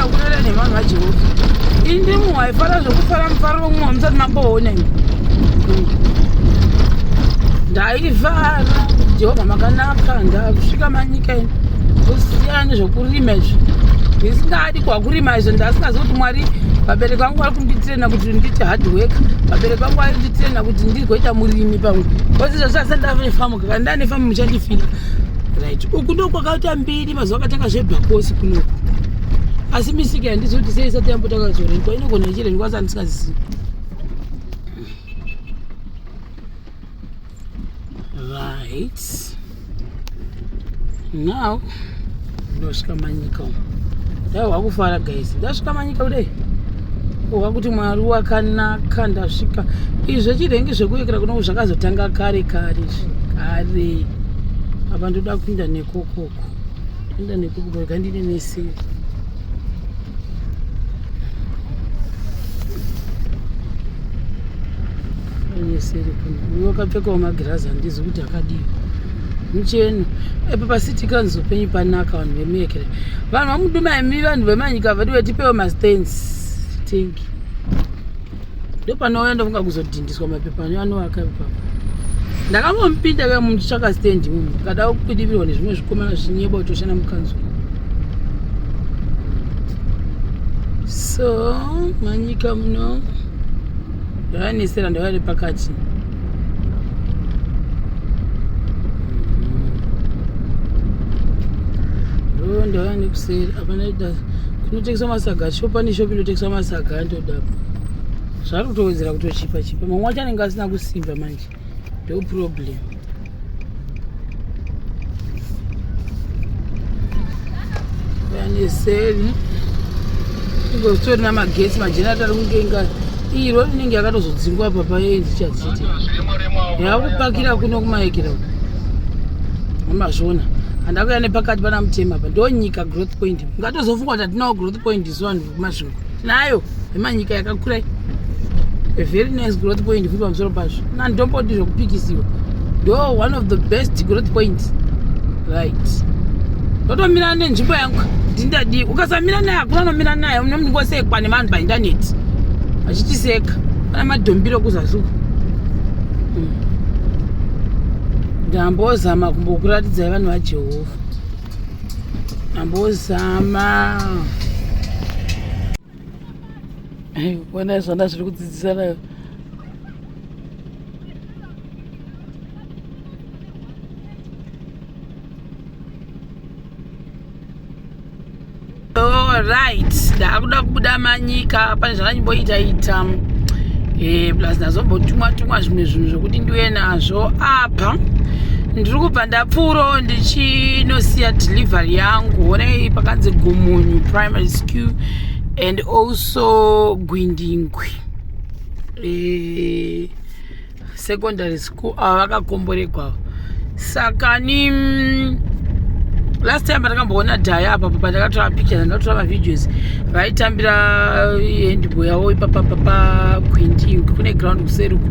kurera nevanhu vajehovha indimu haifara zvekufara mufaro vomumwe vamusati mamboona ini ndaivara jehovha makanaka ndakusvika manyika ini kusiyana nezvekurima izvi ndisingadi kwakurima izvo ndasingazi kuti mwari vabereki vangu vari kunditirena kuti ndiite hard work vabereki vangu vari kunditirena kuti ndigoita murimi pamwe kozi zvazvasa ndave nefamu kaka ndane famu muchandifira right uku ndokwakaita mbiri mazuva akatanga zvebhakosi kuno asi misika yandizoti sei isati yambotanga zorentwa inogona ichirentwa asi andisingazivi right now ndosvika manyika umu dai wakufara guys ndasvika manyika kudai wakuti mwari wakanaka ndasvika izvi zvechirengi zvekuyekera kuno zvakazotanga kare kare kare apa ndoda kuinda ne Kuku. Enda nekuku baba gandine mese. Yesere kuno. Uyo kapfekawo magirazi handizi kuti akadii. Mucheno. Epo pasiti kanzo penyu panaka vanhu vemekere. Vanhu vamuduma imi vanhu vemanyika vedu vetipewo mastands. Thank you. ndopanouya ndofunga kuzodhindiswa mapepa ano anovaka ipapa ndakambomupinda ka muchitsvaka stand mumu kada kudivirwa nezvimwe zvikomana zvinyeba kutoshana mukanzo so manyika muno ndavanesera ndavare pakati ndavane kuseri apana kunotengeswa masaga shopani shopi inotengeswa masaga zvari kutowedzera kutochipa chipa mamwe wacho anenge asina kusimba manje ndo problem vaneseri ingozitori namagetsi majenati ari kunge inga iyi rori inenge yakatozodzingwa papa yendi chadziti yakupakira kuno kumaekera amazvona handakuya nepakati pana mutema pa ndonyika growth point ngatozofungwa tatinawo growth point isu vanhu mazvingo tinayo emanyika yakakura a very nice growth point futi pamusoro pazvo nandomboti zvokupikisiwa ndo one of the best growth point right ndotomira nenzvimbo yangu ndindadii ukasamira naye hakuna nomira naye une munhu ngosekwa nevanhu paindaneti vachitiseka pana madhombiro kuzasuka hmm. ndambozama kumbokuraridza vanhu vajehovha ambozama wena zvana zviri kudzidzisa nayo right ndaakuda kubuda manyika pane zvandanyimboita ita e, plus ndazombotumwa tumwa zvimwe zvinhu zvokuti ndiuye nazvo apa ndiri kubva ndapfuuro ndichinosiya delivery yangu honei pakanzi gumunyu primary school and also gwindingwi e, secondary school ava vakakomboregwa saka ni mm, last time pandakamboona dhaya apapo pandakatora picture ndakatora mavideos vaitambira eh, handball yavo ipapa papa gwindi kune ground kuseri uku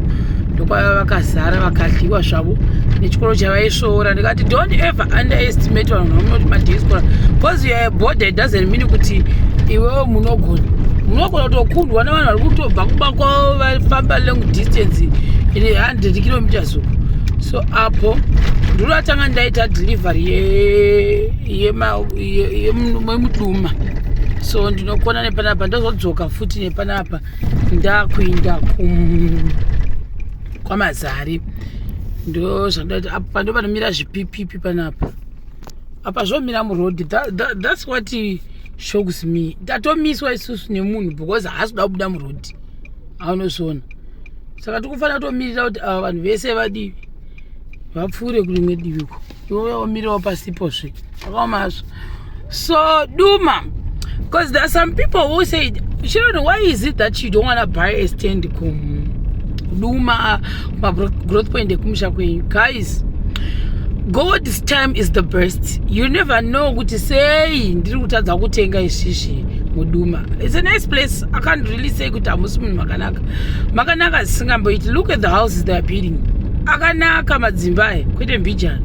ndokwava vakazara vakadliwa zvavo nechikoro chavaisvoora ndikati don't ever underestimate vanhu vamunoti madaiskora bcause youare border doesn't mean kuti iwewo munogona munogona kutokundwa nevanhu vari kutobva kumba kwavo famba long distance in 100 kilometers uku so apo ndiri atanga ndaita delivery yemuduma so ndinokona nepanapa ndozodzoka futi nepanapa ndakuinda kwamazari ndo zvandaita apo pando panomira zvipipipi panapa apa zvomira muroad thats what shows me tatomiswa isusu nemunhu because haasi kuda kubuda muroad aunozviona saka tikufanira kutomirira kuti ava vanhu vese vadivi vapfuure kurimwe diviko iwoya womirawo pasipo zve akaomazvo so duma because there are some people who said children why is it that you don't want to buy a stand kum duma magrowth point ekumusha kwenyu guys god's time is the best you never know kuti sei ndiri kutadza kutenga ishishi muduma its a nice place i can't really say kuti hamusi munhu makanaka makanaka zisingamboiti look at the houses they are building akanaka madzimba aya kwete mbijana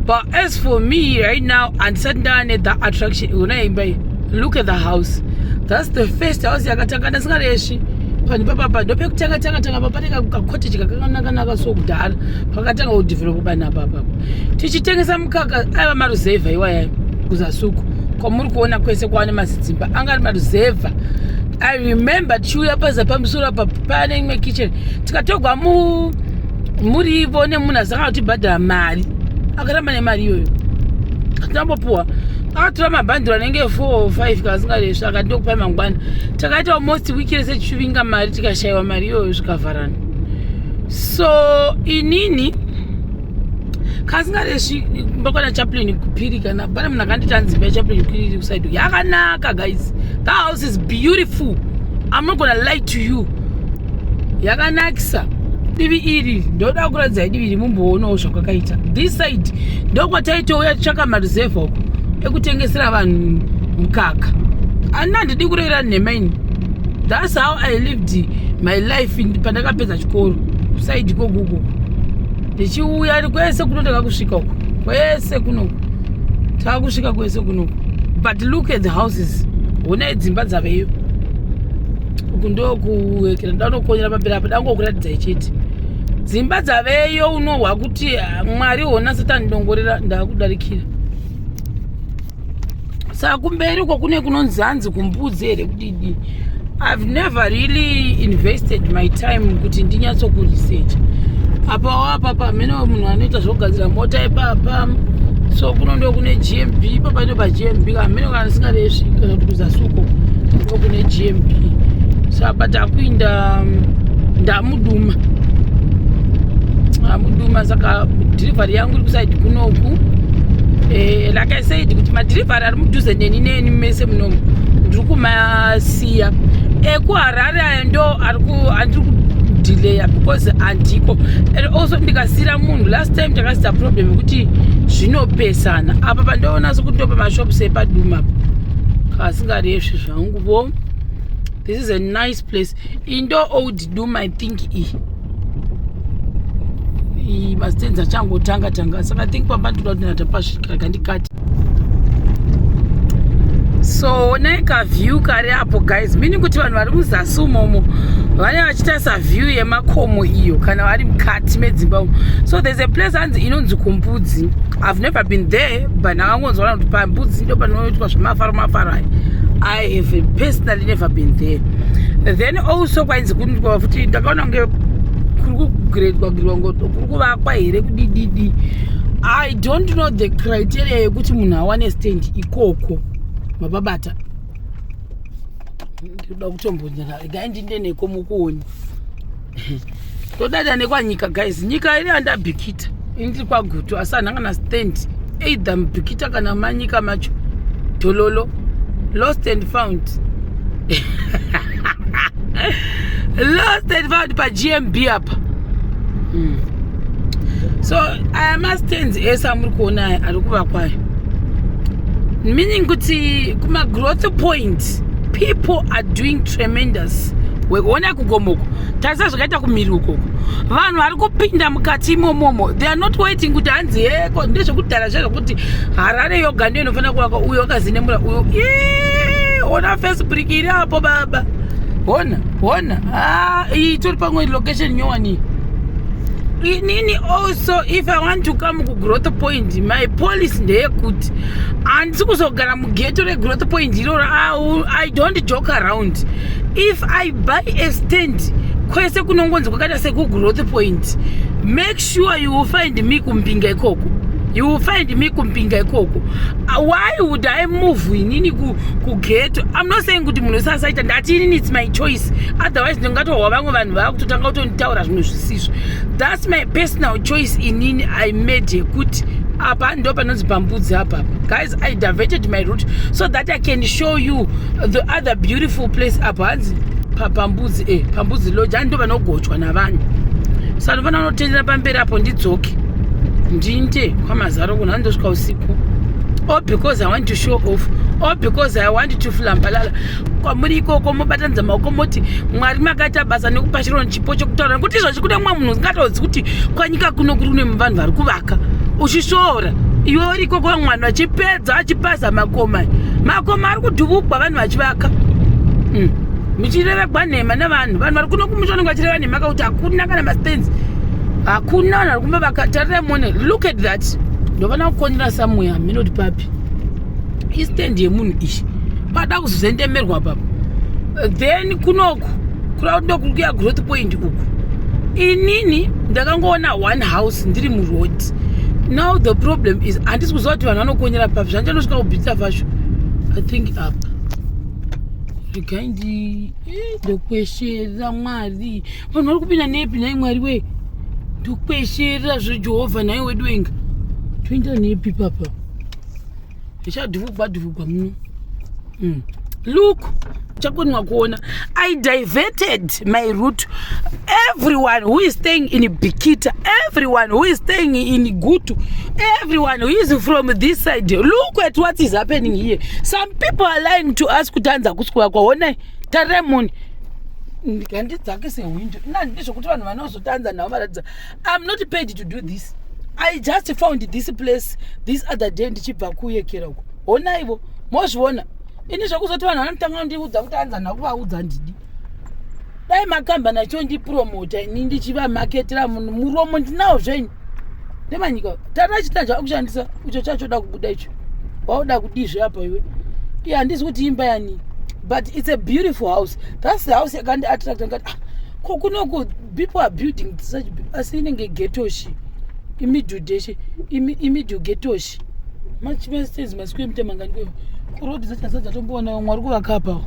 but as for me right now handisati ndava nethe attraction iona imba iyi look at the house that's the first house yakatanga ndasingaresvi panhu papapa ndopekutanga tanga tanga papane kakotage kakanakanaka so kudhara pakatanga kudevelopa panhu apapa tichitengesa mukaka aiva maruzevha iwayayo kuzasuku kwamuri kuona kwese kwaane mazidzimba anga ari maruzevha i remember tichiuya paza pamusoro apa pane imwe kitchen tikatogwa mu murivo nemunhu asanga kutibhadhara mari akaramba nemari iyoyo hatinambopuwa akatora mabhandiro anenge 4 or 5 kasingaresvi akati ndokupai mangwana takaita almost wiki rese tichivinga mari tikashayiwa mari iyoyo zvikavharana so inini kasingaresvi kumba kwana chaplin kupiri kana pane munhu akanditi anzi imba yachaplin kupiri iri kusaido yakanaka guys the house is beautiful i'm not gonna lie to you yakanakisa divi iri ndoda kuradzai divi iri mumboonawo zvakwakaita this side ndokwataitouya tsvaka mareserve uko ekutengesera vanhu mukaka ani handidi kurevera nhema ini thats how i lived my life pandakapedza chikoro saidi kokuko ndichiuya kwese kuno taka kusvika uko kwese kunoku taka kusvika kwese kunoku but look at the houses honai dzimba dzaveyo uku ndokuekera ndanokonyera pamberi apa dangokuratidzai chete dzimba dzaveyo unohwa kuti ah, mwari hona satani ndongorera ndakudarikira saka kumberi uko kune kunonzi hanzi kumbudzi here kudidi i've never really invested my time kuti ndinyatsokuresearcha apawo apapa hamene munhu anoita zvokugadzira mota ipapa so kuno ndo kune gmb ipapa ndo pagmb kamene Singareshi kana kuti kuzasuko ndiko kune GMB sa but akuinda mm, ndamuduma ndamuduma saka delivery yangu iri kusaidi kunoku eh, like I said kuti madelivery ari mudhuze neni neni mese munomu ndiri kumasiya ekuharare eh, aya ndo ari kudileya because andiko and also ndikasiyira munhu last time takasita problem yekuti zvinopesa Sana apa pandoona sekuti ndopa mashops epaduma kasingaresvi zvangu vo this is a nice place indo old doom i think i i mastenzi achangotanga tanga saka i think pamba ndoda kuti natapasvika kandikati so onai kaview kari apo guys meaning kuti vanhu vari muzasi umomo vane vachitarisa view yemakomo iyo kana vari mukati medzimba umo so there's a place hanzi inonzi kumbudzi mbudzi i've never been there but ndakangonzwa kuti pambudzi ndo panoitwa zvemafaro mafaro aya i have personally never been there then also kwainzi kundikwava futi ndakaona kunge kuri kugredwa girwa ngoto kuri kuvakwa here kudididi i don't know the criteria yekuti munhu awane stand ikoko mababata ndinoda kutombonyera regai ndindeneko mukuoni todada nekwanyika guys nyika iri andabikita indiri kwagutu asi anhu angana stand either mubikita kana manyika macho dololo lost and found lost and found pagmb apa mm. so aya mastands ese amuri kuona aya ari kuvakwayo meaning kuti kumagrowth point people are doing tremendous wekuona kugomoko tarisa zvakaita kumhiri ukoko vanhu vari kupinda mukati imomomo they are not waiting kuti hanzi heko ndezvekudhara zve zvekuti harare yoga ndiyo inofanira kuvaka uyo wakazinemura uyo ona face brick iri apo baba hona hona ah, iyi tori pamwe location nyowani inini also if i want to come kugrowth point my policy ndeyekuti handisi kuzogara mugeto regrowth point iroro i don't joke around if i buy a stand kwese kunongonzi kwakaita sekugrowth point make sure you will find me kumbinga ikoko you will find me kumbinga ikoko uh, why would i move inini kugeto im not saying kuti munhu wese asaita ndati inini its my choice otherwise ndingatowwa vamwe vanhu vava kutotanga kutonditaura zvinhu zvisizvo thats my personal choice inini i made yekuti apa ndo panonzi pambudzi apapa guys i diverted my route so that i can show you the other beautiful place apa hanzi pambudzi e eh, pambudzi lodge ani ndo vanogochwa navanhu so anofana unotendera pamberi apo ndidzoke ndinde kwamazaro kuno andosvika usiku or oh, because i want to show off or oh, because i want to flambalala kwamuri ikoko mobatanidza maoko moti mwari makaita basa nekupa chirono pocho kutaura nekuti izvo chikuda mumwe munhu usingatozi kuti kwanyika kuno kuri kune vanhu vari kuvaka uchishoora iwe uri ikoko vamwana achipedza achipaza makoma makoma ari kudhuvugwa vanhu vachivaka hmm. muchirevegwa nhema nevanhu vanhu vari kuno kumusha vanenge vachireva nhema kakuti hakuna kana mastans hakuna vanhu vari kumba vakatarirai mone look at that ndovana kukonera samuya hameno kuti papi istand yemunhu ichi pada kuzozendemerwa papa then kunoku kuda kuda kukuya growth point uku inini ndakangoona one house ndiri muroad now the problem is handisi kuziva kuti vanhu vanokonyera papi zvandichanosvika kubhitsa fasho i think apa regai ndi eh, ndokweshera mwari vanhu vari kupinda nepi nhai mwari wee ndokweshera zvejehovha nhai wedu wenga toenda nepi papa zvichadhuvugwa dhuvugwa muno mm. look chakonwa kuona i diverted my root everyone who is staying in bikita everyone who is staying in gutu everyone who is from this side look at what is happening here some people are lying to us kuti anza kuswera kwaonai taremoni handidzake sehwindo nandizvokuti vanhu vanozotanza navo varatidza I'm not paid to do this. I just found this place this other day ndichibva kuyekera uko. Hona ivo, mozviona. Ini zvekuzoti vanhu vanotanga kundiudza kuti anza nakuvaudza ndidi. Dai makamba nacho ndipromota ini ndichivamaketera munhu muromo ndinawo zvenyu. Ndemanyika, tata chita chakushandisa icho chachoda kubuda icho. Wauda kudizve apa iwe. Iya handizi kuti imba yani. But it's a beautiful house. That's the house yakandi attract ngati ah, ko kunoku people are building such asi inenge getoshi imidhudheshe imidhugetoshi machivestes masiku emutemangani kwevo kurodi dzachasa dzatomboona vamwe vari kuvakapawo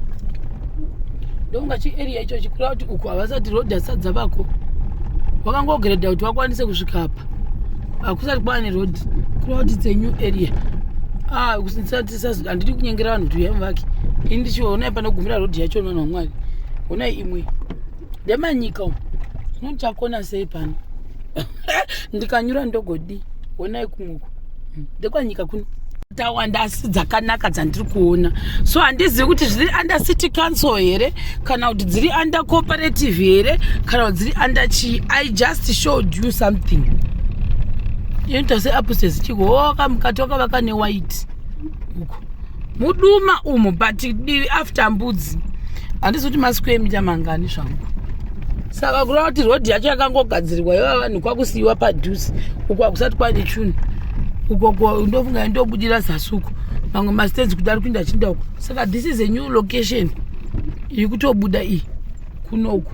ndonga chiarea icho chikura kuti uku havasati rodi asadza vako wakangogredha kuti wakwanise kusvika apa hakusati kwava nerodi kureva kuti its a new area ah, handidi kunyengera vanhu kuti uyamuvaki ini ndichiona panogumira rodhi yacho vanhu vamwari honai imwe ndemanyika umu zvino ndichakona sei pano ndikanyura ndogodii honai kumwoko hmm. ndekwanyika kuno tawanda asi dzakanaka dzandiri kuona so handizivi kuti zviri under city council here kana kuti dziri under cooperative here kana kuti dziri under chii i just showed you something inoita seapusesichiko oka oh, mukati wakavaka newhite uko muduma umu but divi after mbudzi handisi kuti masiku emita mangani zvangu saka kureva kuti rodhi yacho yakangogadzirirwa yova vanhu kwakusiyiwa padhuze uko hakusati kwaine chunhu ukoko ndofunga ndobudira zasuku mamwe mastenzi kudari kuinda chinda uko saka this is a new location iri kutobuda iyi kunoku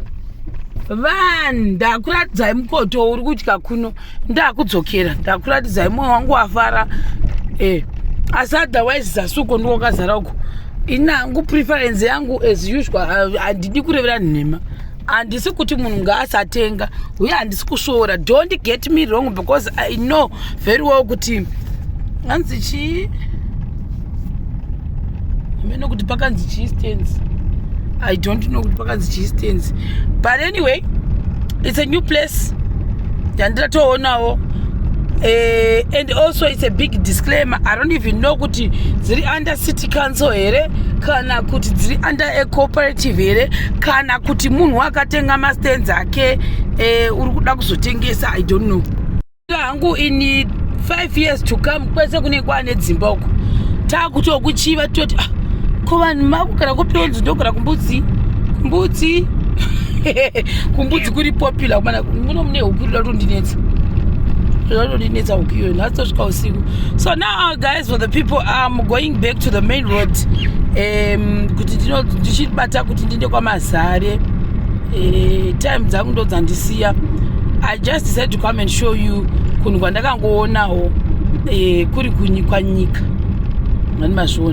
vanhu ndakuratidzai mukoto uri kudya kuno ndakudzokera ndakuratidzai mwoyo wangu wafara e asi otherwise zasuko ndiwo kazara uko inangu preference yangu as usual handidi kurevera nhema handisi kuti munhu ngaasatenga uye handisi kusvoora don't get me wrong because i know very well kuti hanzi chii mene kuti pakanzi chii stands i don't know kuti pakanzi chii stands but anyway it's a new place yandiratoonawo eh, and also it's a big disclaimer i don't even know kuti dziri under city council here kana kuti dziri under a cooperative here kana kuti munhu akatenga mastands ake eh, uri kuda kuzotengesa i don't know hangu in five years to come kwese kunenge kwaane dzimba uko taakutokuchiva toti ah, ko vanhu makugara kupionzi ndogara kumbudzi kumbudzi kumbudzi kuri popular kumana muno mune huku rida kutondinetsa rida kutondinetsa huku iyoyo nhasi tosvika usiku so now guys for the people am going back to the main road um, kuti ndichibata kuti ndiende kwamazare eh, time dzangu ndo dzandisiya i just decided to come and show you kunhu kwandakangoonawo eh, kuri kwanyika mani mazviona